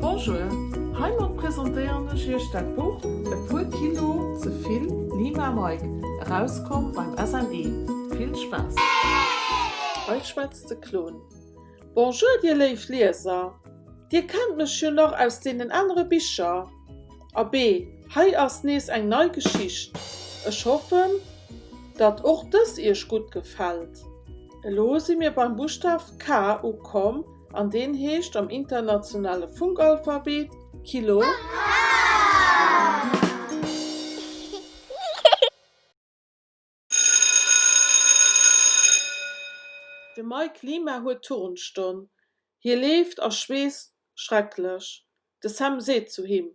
Bonjour, heimat presentéieren ech iech dat Buch E puer Kilo ze vill, Lima Mike, erauskomm beim SNE. Vill Spaass! Hei schwätzt de Clown. Bonjour dir léif Lieser, dir kennt mech jo nach aus deenen anere Bicher. Abee, hei ass nees eng nei Geschicht. Ech hoffen, datt och dës iech gutt gefält. Elo si mir beim Buschtaf K ukomm, an deen heescht am internationale Funkalphabet Kilo. De Mike Klima huet Turnstonn. Hie leeft a schweesst schrecklech. De Sam seet zu him,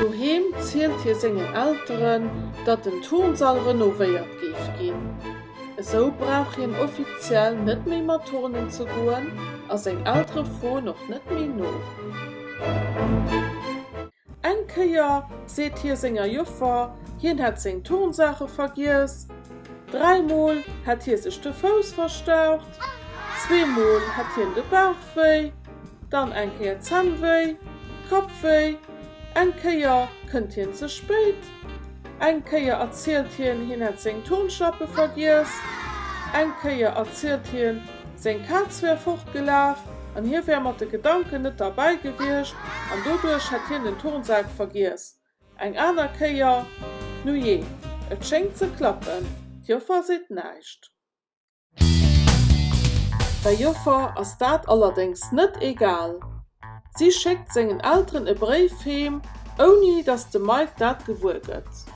Doheem zielt hie sengen Elteren, datt den Turnsall renovéiert géif ginn. Esou brauch hien offiziell net méi mat turnen ze goen a seng Eltere froen och net méi no. Eng Kéier seet hie senger Joffer, hien hätt seng Turnsaache vergiess. Dräimol hätt hie sech de Fouss verstaucht, zweemol hätt hien de Bauch wéi. dann eng Kéier Zännwéi, Kappwéi, eng Kéier kënnt hien ze spéit, eng Kéier erzielt hien, hien hätt seng Turnschlappe vergiess, eng Kéier erzielt hien, seng Kaz wär fortgelaf an hie wär mat de Gedanken net derbäi gewiescht an doduerch hätt hien den Turnsak vergiess, eng aner Kéier, Nujee, et schéngt ze klappen, d'Joffer seet näischt. Der Joffer ass dat allerdéngs net egal. Si schéckt sengen Elteren e Bréif heem, ouni datt de Mike dat gewuer gëtt.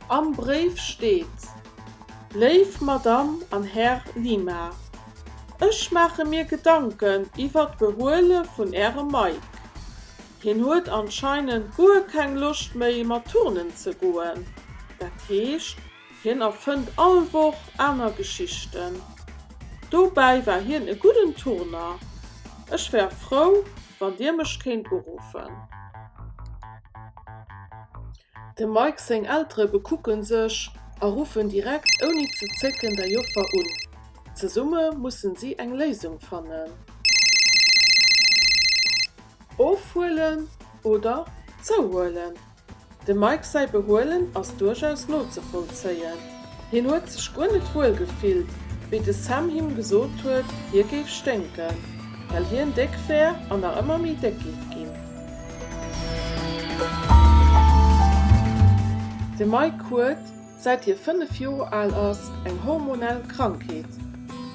Am Bréif steet, Léif Madame an Här Lima, Ech maache mir Gedanken iwwert d'Behuele vun Ärem Mike. Hien huet anscheinend guer keng Loscht méi mat turnen ze goen, dat heescht, Hien erfënnt all Woch aner Geschichten. Dobäi war hien e gudden Turner. Ech wär frou, wann Dir mech kéint uruffen. Dem Mike seng Eltere bekucken sech a ruffen direkt ouni ze zécken der Joffer un. Zesumme mussen si eng Léisung fannen. Ofhuelen oder zouhuelen? Dem Mike säi Behuelen ass duerchaus nozevollzéien. Hien huet sech guer net wuel gefillt, wéi de Sam him gesot huet, hie géif sténken, well hien déck wär an nach ëmmer méi déck géif ginn. De Mike huet. Säit hie 5 Joer al ass eng hormonell Krankheet.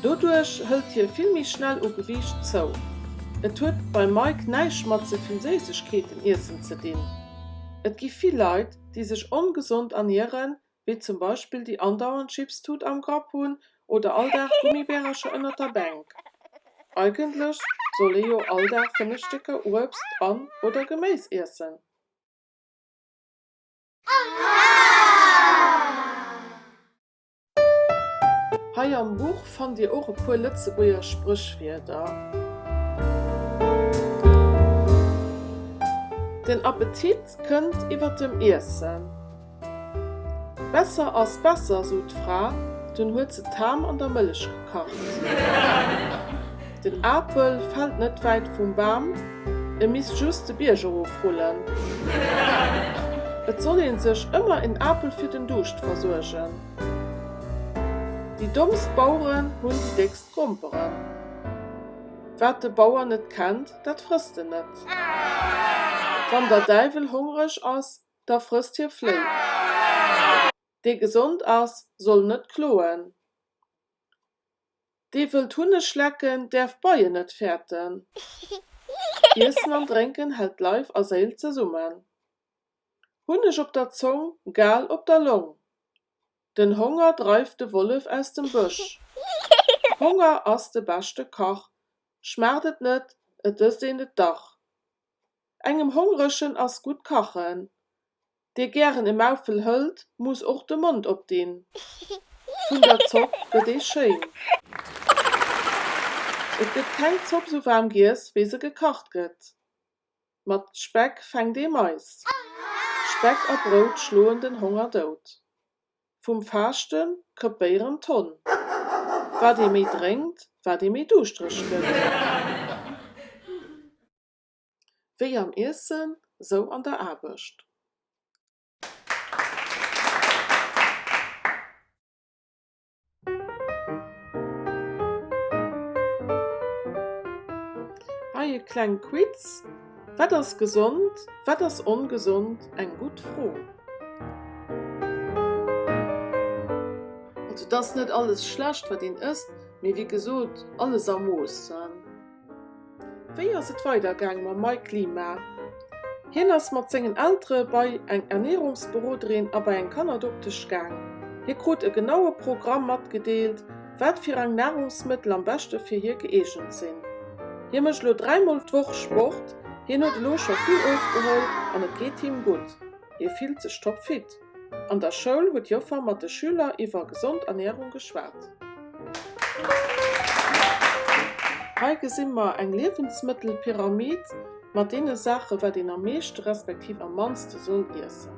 Doduerch hëlt hie vill méi schnell u Gewiicht zou. Et huet beim Mike näischt mat ze vill Séissegkeeten iessen ze dinn. Et gi vill Leit, déi sech ongesond ernieren, wéi zum Beispill déi andauernd Chipstut am Grapp hunn oder all Dag Gummibärercher ënnert der Bänk. Eigentlech soll ee jo all Dag 5 Stécker Uebst an oder Geméis iessen. Hei am Buch fannt dir och e puer Lëtzebuerger Spréchwierder. Den Appetit kënnt iwwer dem Iessen. Besser ass besser, sot d'Fra, dunn huet se d'Ham an der Mëllech gekacht. Den Apel fällt net wäit vum Bam, e misst just de Bierg erof rullen. Et soll een sech ëmmer en Apel fir den Duuscht versuergen. Déi dommst Baueren hunn déi déckst Gromperen. Wat de Bauer net kennt, dat frësst en net. Wann der Däiwel hongreg ass, da frësst hie Fléi. Dee gesond ass, soll net kloen. Dee wëllt Hunneg lecken, däerf Beien net fäerten. Iessen an Drénken hält Leif a Séil zesummen. Hunneg op der Zong, Gal op der Long. Den Honger dreift de Wollef aus dem Bësch. Honger ass de beschte Kach, schmaacht et net, et ësst een et dach. Engem Hongregen ass gutt kachen. Dee gären e Maufel hëlt, muss och de Mond opdinn. Vun der Zopp gëtt ee schéin. Et gëtt keng Zopp sou waarm giess, wéi se gekacht gëtt. Mat Speck fänkt ee Mais. Speck a Brout schloen den Honger dout. Vum Faaschte krepéieren d'Honn. Wat ee méi drénkt, wat ee méi duuschtreg gëtt. Wéi am Iessen, sou an der Aarbecht. Hei e kleng Quiz, Wat ass gesond, wat ass ongesond? Eng gutt Fro! Also et ass net alles schlecht wat een ësst, mee wéi gesot alles a Mooss. Wéi ass et weider gaang mam Mike Lima? Hien ass mat sengen Eltere bei eng Ernierungsberoderin a bei eng Kannerdoktesch gaang. Hie krut e genaue Programm matgedeelt, wat fir rang Narungsmëttel am beschte fir hie gëeegent sinn. Hie mécht elo dräi Mol d'Woch Sport. Hien huet elo scho vill ofgeholl an et geet him gutt. Hie fillt sech toppfit. An der Schoul huet d'Joffer mat de Schüler iwwer gesond Ernährung geschwat. Hei gesi mer eng Liewensmëttelpyramid mat deene Saachen, wat een am meeschte respektiv am mannste soll iessen.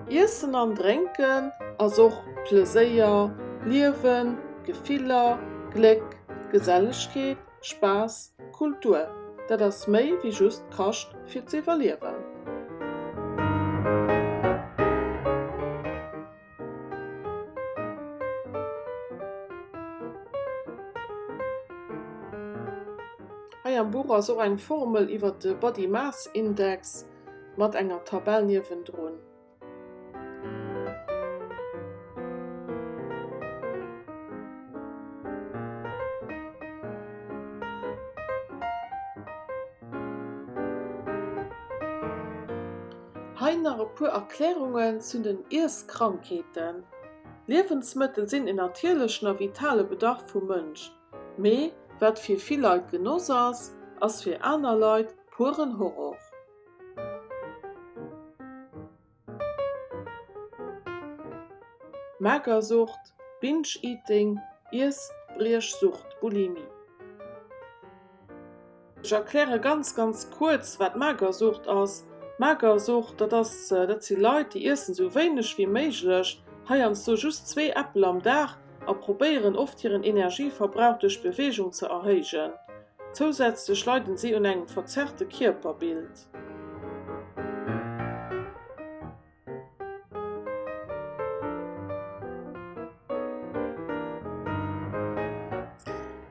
Iessen an Drénken ass och Pleséier, Liewen. Gefiller, Gléck, Gesellegkeet, Spaass, Kultur, dat ass méi wéi just Kascht fir z'iwwerliewen. Hei am Buch ass och eng Formel iwwer de Body Mass Index mat enger Tabell niewendrun. Hei nach e puer Erklärungen zun den Iesskrankheeten. Liewensmëttel sinn en natierlechen a vitale Bedarf vum Mënsch. Mee wat fir vill Leit Genoss ass, ass fir aner Leit pueren Horror. Magersucht, Binge Eating, Iessbriechsucht, Bulimie. Ech erkläre ganz ganz kuerz wat Magersucht ass. Magersucht dat ass, dat si Leit déi iessen esou wéineg wéi méiglech, heiansdo just zwee Äppel am Dag, a probéieren oft hiren Energieverbrauch duerch Beweegung ze erhéijen. Zousätzlech leiden si un engem verzerrte Kierperbild.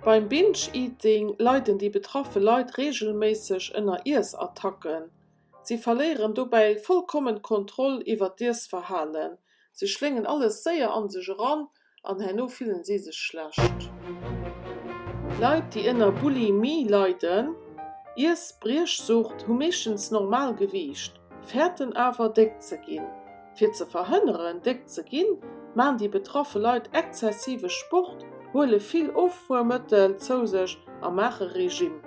Beim Binge Eating leiden déi betraffe Leit reegelméisseg ënner Iessattacken. Si verléieren dobäi vollkommen d'Kontroll iwwer d'Iessverhalen. Si schléngen alles séier a sech eran an herno fillen si sech schlecht. Leit déi ënner Bulimie leiden, Iessbriechsucht, hu meeschtens normal Gewiicht, fäerten awer déck ze ginn. Fir ze verhënneren déck ze ginn, maachen déi betraffe Leit exzessive Sport, huele vill Offuermëttel zou sech a maache Regime.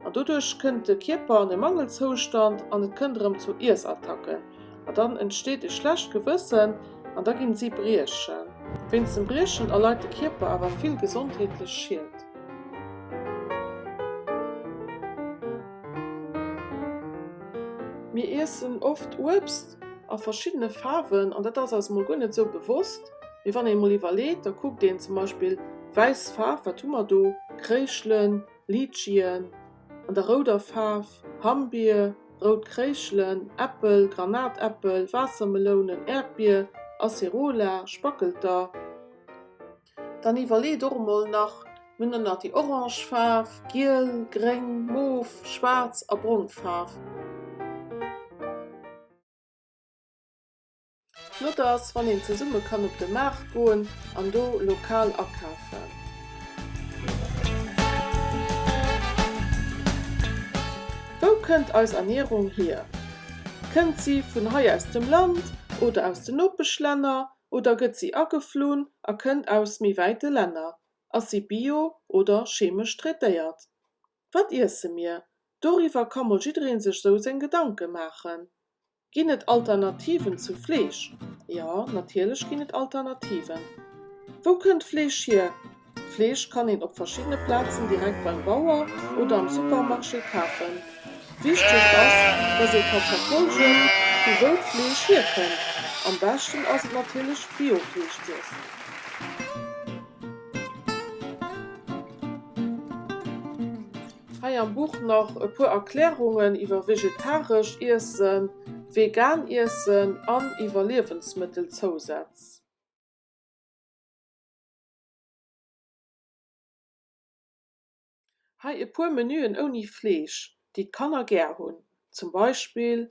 An doduerch kënnt de Kierper an e Mangelzoustand an et kënnt erëm zu Iessattacken. An dann entsteet e schlecht Gewëssen an da ginn si briechen. Wéinst dem Briechen erleit de Kierper awer vill gesondheetlech Schied. Mir iessen oft Uebst a verschiddene Faarwen an dat ass eis mol guer net esou bewosst. Mee wann ee mol iwwerleet, da kuckt een zum Beispill, wäiss Faarf, wat hu mer do? Kréischelen, Litschien, an der rouder Faarf, Hammbier, rout Kréischelen, Äppel, Granatäppel, Waassermelounen, Äerdbier, Acerola, Spackelter. Dann iwwerleet och emol nach, mir hunn dann nach déi orange Faarf, giel, gréng, mof, schwaarz a brong Faarf. Flott ass, wann een zesumme kann op de Maart goen an do lokal akafen. Wou kënnt eis Ernierung hier? Kënnt si vun hei aus dem Land oder aus de Nopeschlänner oder gëtt si ageflunn a kënnt aus méi wäite Länner? Ass si bio oder chemesch traitéiert? Wat iesse mir? Doriwwer ka mol jidderee sech sou seng Gedanke maachen. Ginn et Alternativen zu Fleesch? Jo, natierlech ginn et Alternativen. Wou kënnt Fleesch hier? Fleesch kann een op verschiddene Plazen direkt beim Bauer oder am Supermarché kafen. Wichteg ass, dass ee ka verfolgen, vu wou d'Fleesch hier kënnt. Am beschten ass et natierlech Biofleesch z'iessen. Hei am Buch nach e puer Erklärungen iwwer vegetaresch Iessen, vegan Iessen an iwwer Liewensmëttelzousätz. Hei e puer Menüen ouni Fleesch, déi d'Kanner gär hunn, zum Beispill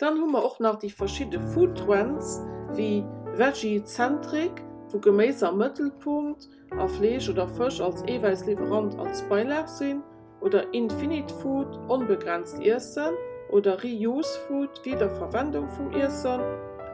Dann hu mer och nach déi verschidde Food Trends wéi Veggie Centric, wou Geméis am Mëttelpunkt a Fleesch oder Fësch als Eewäissliwwerant als Beilag sinn, oder Infinite Food, onbegrenzt Iessen, oder Reuse Food, Wiederverwendung vum Iessen,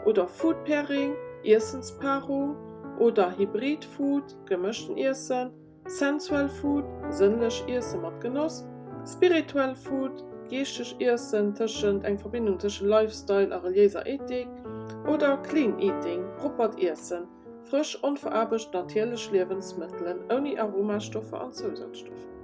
oder Food Pairing, Iessenspaarung, oder Hybrid Food, gemëschten Iessen. Sensual Food, sënnlech Iesse mat Genoss. Spiritual Food, geeschteg Iessen, tëschent eng Verbindung tëschent Lifestyle a reliéiser Ethik. Oder Clean Eating, proppert Iessen, frësch, onveraarbecht, natierlech Liewensmëttelen, ouni Aromastoffer an Zousazstoffer.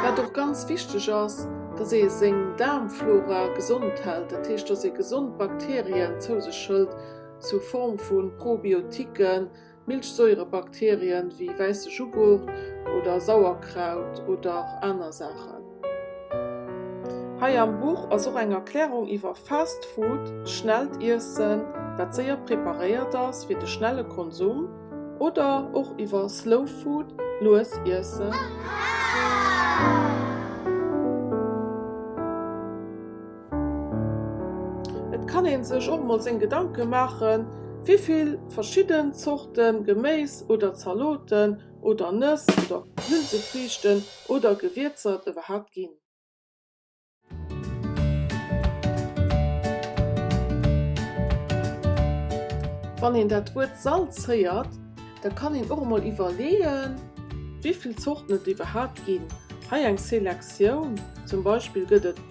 Wat och ganz wichteg ass, dass ee seng Daarmflora gesond hält, dat heescht, dass ee gesond Bakterien zou sech hëlt, sou Form vu Probiotiquen, Milchsäurebakterien wéi wäisse Jughurt oder Sauerkraut oder aner Saachen. Hei am Buch ass och eng Erklärung iwwer Fast Food, schnellt Iessen, wat séier preparéiert ass fir de schnelle Konsum, oder och iwwer Slow Food, lues Iessen. Et kann een sech och mol seng Gedanken maachen, wéivill verschidden Zorten Geméis oder Zaloten oder Nëss oder Hülsefriichten oder Gewierzer et iwwerhaapt ginn. Wann een dat Wuert Salz héiert, da kann een och mol iwwerleeën, wéivill Zorten et iwwerhaapt ginn. Hei eng Selektioun, zum Beispill gëtt et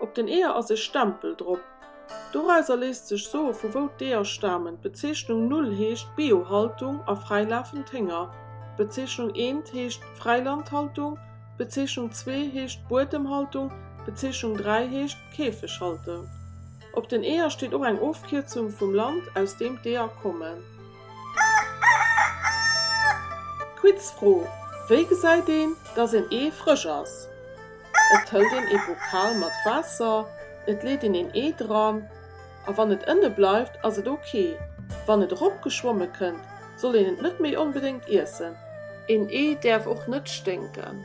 Op den Eeër ass e Stempel drop. Dorauser léisst sech soe vu wou d'Eeër stamen. D'Bezeechnung Null heescht Biohaltung a fräilafend Hénger. D'Bezeechnung Eent heescht Fräilandhaltung. D'Bezeechnung Zwee heescht Buedemhaltung. D'Bezeechnung Dräi heescht Käfeghaltung. Op den Eeër steet och eng Ofkierzung vum Land aus deem d'Eeër kommen. Quizfro, Wéi gesäit een, datt en Ee frësch ass? Et hëlt een ee Bokal mat Waasser, et leet een een Ee dran a wann et ënne bleift, ass et ok. Wann et erop geschwomme kënnt, soll een et net méi onbedéngt iessen. Een Ee däerf och net sténken.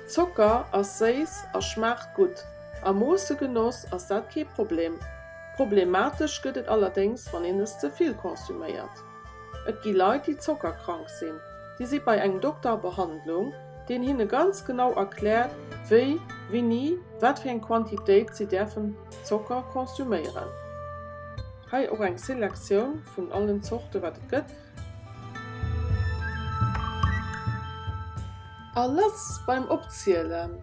Zocker ass séiss a schmaacht gutt. A Moosse genoss ass dat kee Problem. Problematesch gëtt et allerdéngs, wann een es ze vill konsuméiert. Et gi Leit, déi zockerkrank sinn. Déi si bei engem Dokter a Behandlung, deen hinne ganz genau erkläert, wéi, wéini, wat fir eng Quantitéit si däerfen Zocker konsuméieren. Hei och eng Selektioun vun allen Zorte wat et gëtt. A lass beim Opzielen!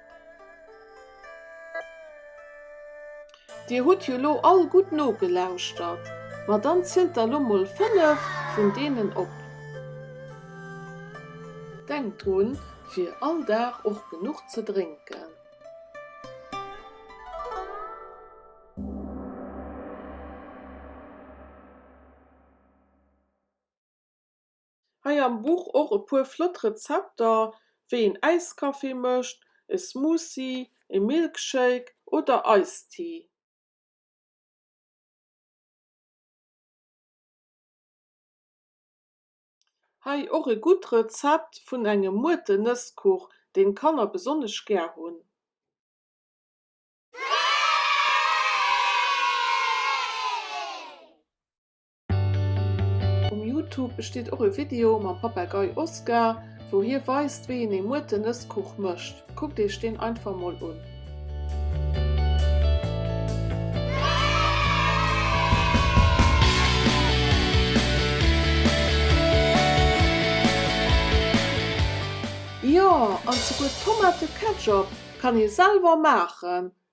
Dir hutt jo lo all gutt nogelauschtert, ma dann zielt der lo mol 5 vun deenen op. Denkt drun fir all Dag och genuch ze drénken. Hei am Buch och e puer flott Rezepter, wéi een Äiskaffee mécht, e Smoothie, e Milkshake oder Iced Tea. Hei och e gutt Rezept vun engem Muerte-Nësskuch, deen d'Kanner besonnesch gär hunn. Um Youtube besteet och e Video mam Papagei Oscar, wou hie weist wéi een ee Muerten-Nësskuch mécht. Kuckt Iech deen einfach mol un. Jo, an souguer Tomate-Ketchup kann ee selwer maachen!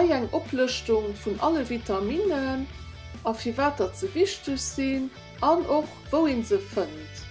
Hei eng Oplëschtung vun alle Vitaminnen a firwat datt se wichteg sinn an och wou een se fënnt.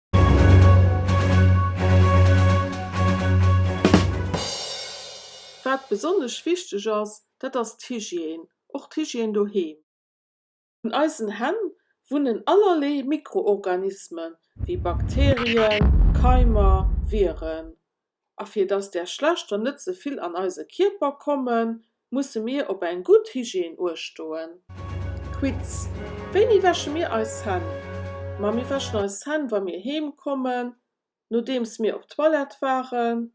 Wat besonnesch wichteg ass, dat ass d'Hygiène, och d'Hygiène doheem. Un eisen Hänn wunnen allerlee Mikroorganismen, wéi Bakterien, Keimer, Viren. A fir dass där schlechter net ze vill an eise Kierper kommen, musse mir op eng gutt Hygiène uecht doen. Quiz, Wéini wäsche mir eis Hänn? Ma mir wäschen eis Hänn, wa mir heem kommen, nodeems mir op d'Toilette waren,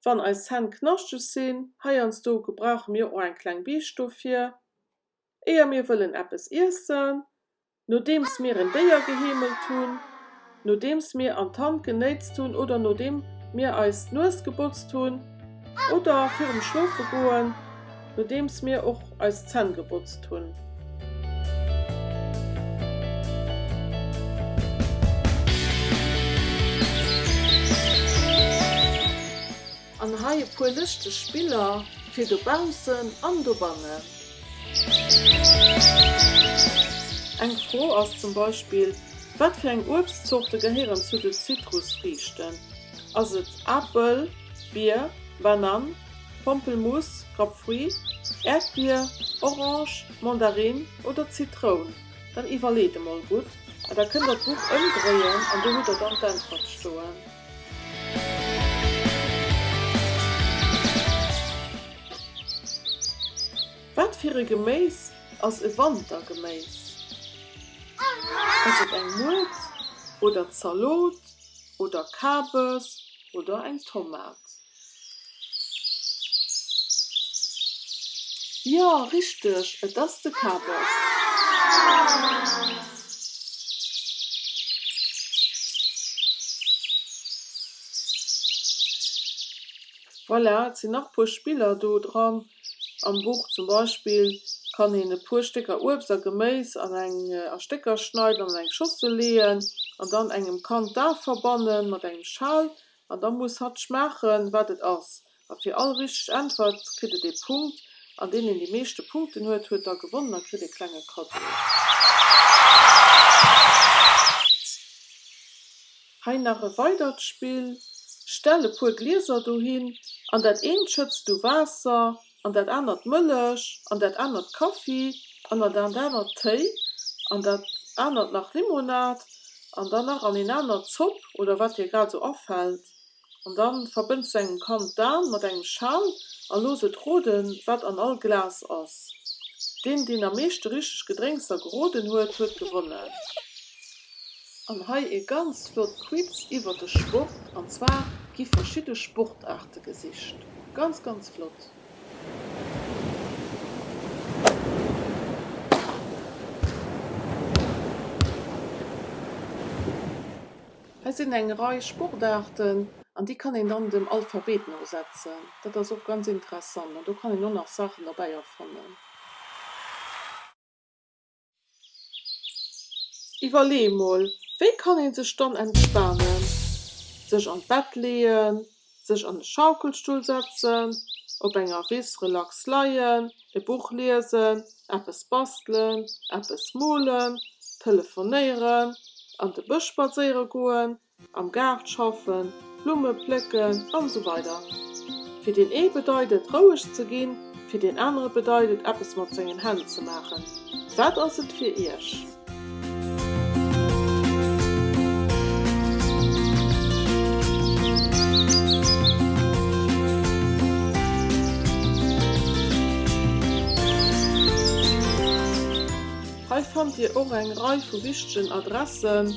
wann eis Hänn knaschteg sinn, heiansdo gebrauche mir och eng kleng Biicht dofir, éier mir wëllen eppes iessen, Nodeems mir en Déier geheemelt hunn, nodeems mir an d'Hand genéitzt hunn oder nodeem mir eis d'Nues gebotzt hunn oder virum Schlofegoen, nodeems mir och eis Zänn gebotzt hunn. An hei e puer lëschteg Biller fir dobaussen an dobannen. Eng Fro ass zum Beispill, Wat fir eng Uebstzorte gehéieren zu de Zitrusfriichten? Ass et Apel, Bier, Banann, Pompelmuuss, Grapefruit, Äerdbier, Orange, Mandarinn oder Zitroun? Dann iwwerleet emol gutt a da kënnt der d'Buch ëmdréien an do hutt der dann d'Äntwert stoen. Wat fir e Geméis ass e Wantergeméis? Ass et eng Muert oder Zalot oder Kabes oder eng Tomat? Jo richteg et ass de Kaabos. Voilà et sinn nach puer Spiller do dran am Buch zum Beispill kann een e puer Stécker Uebst a Geméis an eng a Stécker schneiden an an eng Schossel leeën an dann engem Kand d'Ae verbannen mat engem Schal An da muss hatt schmaachen, wat et ass. A fir all richteg Äntwert kritt et ee Punkt. An deen, deen déi meeschte Punkten huet, huet da gewonnen a kritt ee klenge Cadeau. Hei nach e weidert Spill, Stell e puer Glieser dohin, an dat eent schëtts du Waasser, an dat anert Mëllech an dat anert Kaffi an an dat anert Téi an dat anert nach Limonad an dann nach an een anert Zopp oder wat dir grad esou afällt an da verbënns de engem Kand d'An mat engem Schal a looss et roden wat an all Glas ass. Deen deen am meeschte richteg Gedrénkser geroden huet, huet gewonnen. An hei ee ganz flott Quiz iwwert de Sport, an zwar gi verschidde Sportaarte gesicht. Ganz, ganz flott! Hei sinn eng Rei Sportaarten, an déi kann een dann dem Alphabet no setzen. Dat ass och ganz interessant, an do kann een och nach Saachen derbäi erfannen. Iwwerlee mol, wéi kann ee sech dann entspanen? Sech an d'Bett leeën, sech an e Schaukelstull setzen, op enger Wiss relax leien, e Buch liesen, eppes bastelen, eppes molen, telefonéieren, an de Bësch spadséiere goen, Am Gaart schaffen, Blumme plécken an esou weider Fir deen ee bedeit et roueg ze ginn, fir deen anere bedeit et eppes mat sengen Hänn ze maachen. Wat ass et fir Iech? Hei fannt Dir och eng Rei vu wichtegen Adressen.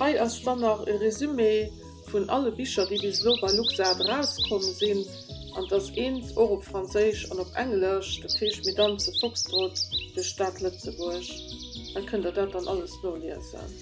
Hei ass dann nach e Resumé vun alle Bicher, déi bis elo bei LuxArt erauskomm sinn. An et ass eent och op Franséisch an op Englesch, dat heescht Mesdames et Foxtrot, de Staat Lëtzebuerg. Hei kënnt der dat dann alles noliesen.